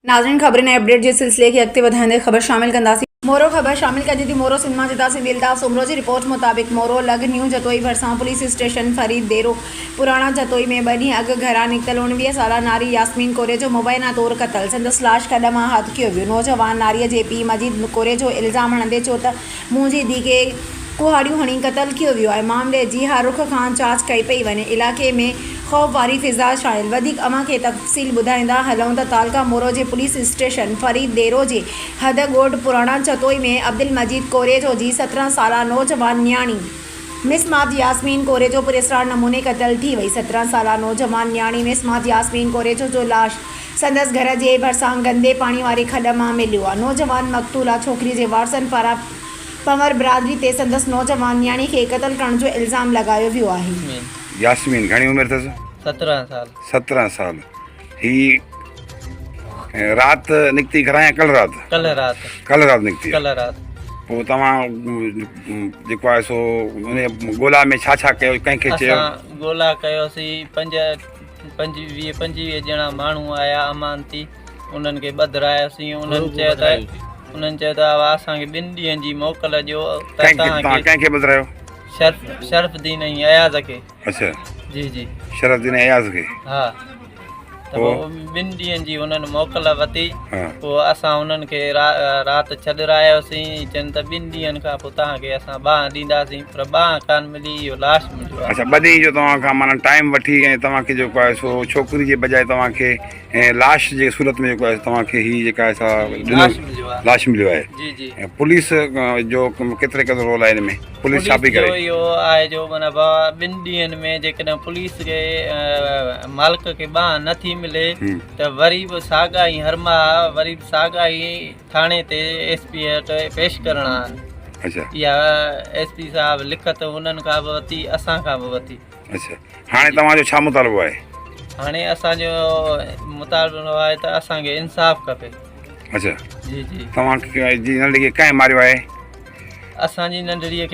ناظرين خبرن ۽ اپڊيٽ جي سلسلي کي اڳتي وڌائيندي خبر شامل ڪنداسين. مورو خبر شامل ڪجي ٿي مورو سنڌ مان جدا سنڌي الطاف سومرو جي رپورٽ مطابق مورو لڳ نيو جتوئي ڀرسان پوليس اسٽيشن فريد ديرو پراڻا جتوئي ۾ ٻه ڏينهن اڳ گهران نڪتل اوڻويهه سالا ناري ياسمين ڪوريجو مبينا طور قتل سندس لاش کڏ مان هٿ ڪيو ويو نوجوان ناري جي پيء مجيد ڪوريجو الزام هڻندي چيو ته مون جي ڌيء کي ڪهاڙيون هڻي قتل ڪيو ويو آهي. معاملي جي هر رخ کان جاچ ڪئي پئي وڃي. علائقي ۾ خوف واري فضا ڇانيل. وڌيڪ اوهان کي تفصيل ٻڌائيندا هلون ته تعلقه مورو جي پوليس اسٽيشن فريد ديرو جي حد ڳوٺ پراڻا چتوئي ۾ عبدالمجيد ڪوريجو جي سترهن سالا نوجوان نياڻي مسمات ياسمين ڪوريجو پراسرار نموني قتل ٿي وئي. سترهن سالا نوجوان نياڻي مسمات ياسمين ڪوريجو جو لاش سندس گهر جي ڀرسان گندي پاڻي واري کڏ مان مليو آهي. نوجوان مقتولا ڇوڪري جي وارثن پاران پنور برادري تي سندس نوجوان نياڻي کي قتل ڪرڻ جو الزام لڳايو ويو آهي. ياسمين گهڻي عمر اٿس؟ سترهن سال. سترهن سال هي رات نڪتي گهران يا ڪلهه رات؟ ڪلهه رات. ڪلهه رات نڪتي. ڪلهه رات. پوء توهان جيڪو آهي سو ان ڳولا ۾ ڇا ڇا ڪيو ڪنهن کي چيو؟ اسان ڳولا ڪيوسي پنج پنج ويهه پنجويهه ڄڻا ماڻهو آيا امان تي انهن کي ٻڌراياسين انهن چيو ته انهن چيو ته اوهان اسان کي ٻن ڏينهن جي موڪل ڏيو ته ڪنهن کي توهان توهان کي ڪنهن کي ٻڌرايو شرف شرف الدين ۽ اياز کي اڇا جي جي شرف الدين ۽ اياز کي ها ته پوء؟ پوء ٻن ڏينهن جي انهن موڪل ورتي ها پوء اسان انهن کي را رات ڇڏراياسين چين ته ٻن ڏينهن کان پوء توهان کي اسان ٻانهن ڏينداسين پر ٻانهن ڪانه ملي، اهو لاش مليو آهي. اڇا ٻه ڏينهن جو توهان کان معنيٰ ٽائيم وٺي ۽ توهان کي جيڪو آهي سو ڇوڪري جي بجاء توهان کي لاش جي صورت ۾ جيڪو آهي توهان کي هي جيڪا آهي سا لاش مليو آهي لاش مليو آهي جي جي پوليس جو ڪيتري قدر رول آهي ان ۾ پوليس ڇا پئي ڪري اهو آهي جو معنيٰ ٻن ڏينهن ۾ جيڪڏهن پوليس کي مالڪ کي ٻانهن نٿي ملي ته وري به ساڳا ئي هرماها وري به ساڳا ئي ٿاڻي تي ايس پي وٽ پيش ڪرڻ آ اچا يا ايس پي صاحب لکت انهن کان به وتي اسان کان به وتي اچا هاڻي توهان جو ڇا مطالبو آهي هاڻي اسان جو مطالبو آهي ته اسان کي انصاف کپي اچا جي جي توهان جي ننڍڙي کي ڪنهن ماريو آهي اسان جي ننڍڙي کي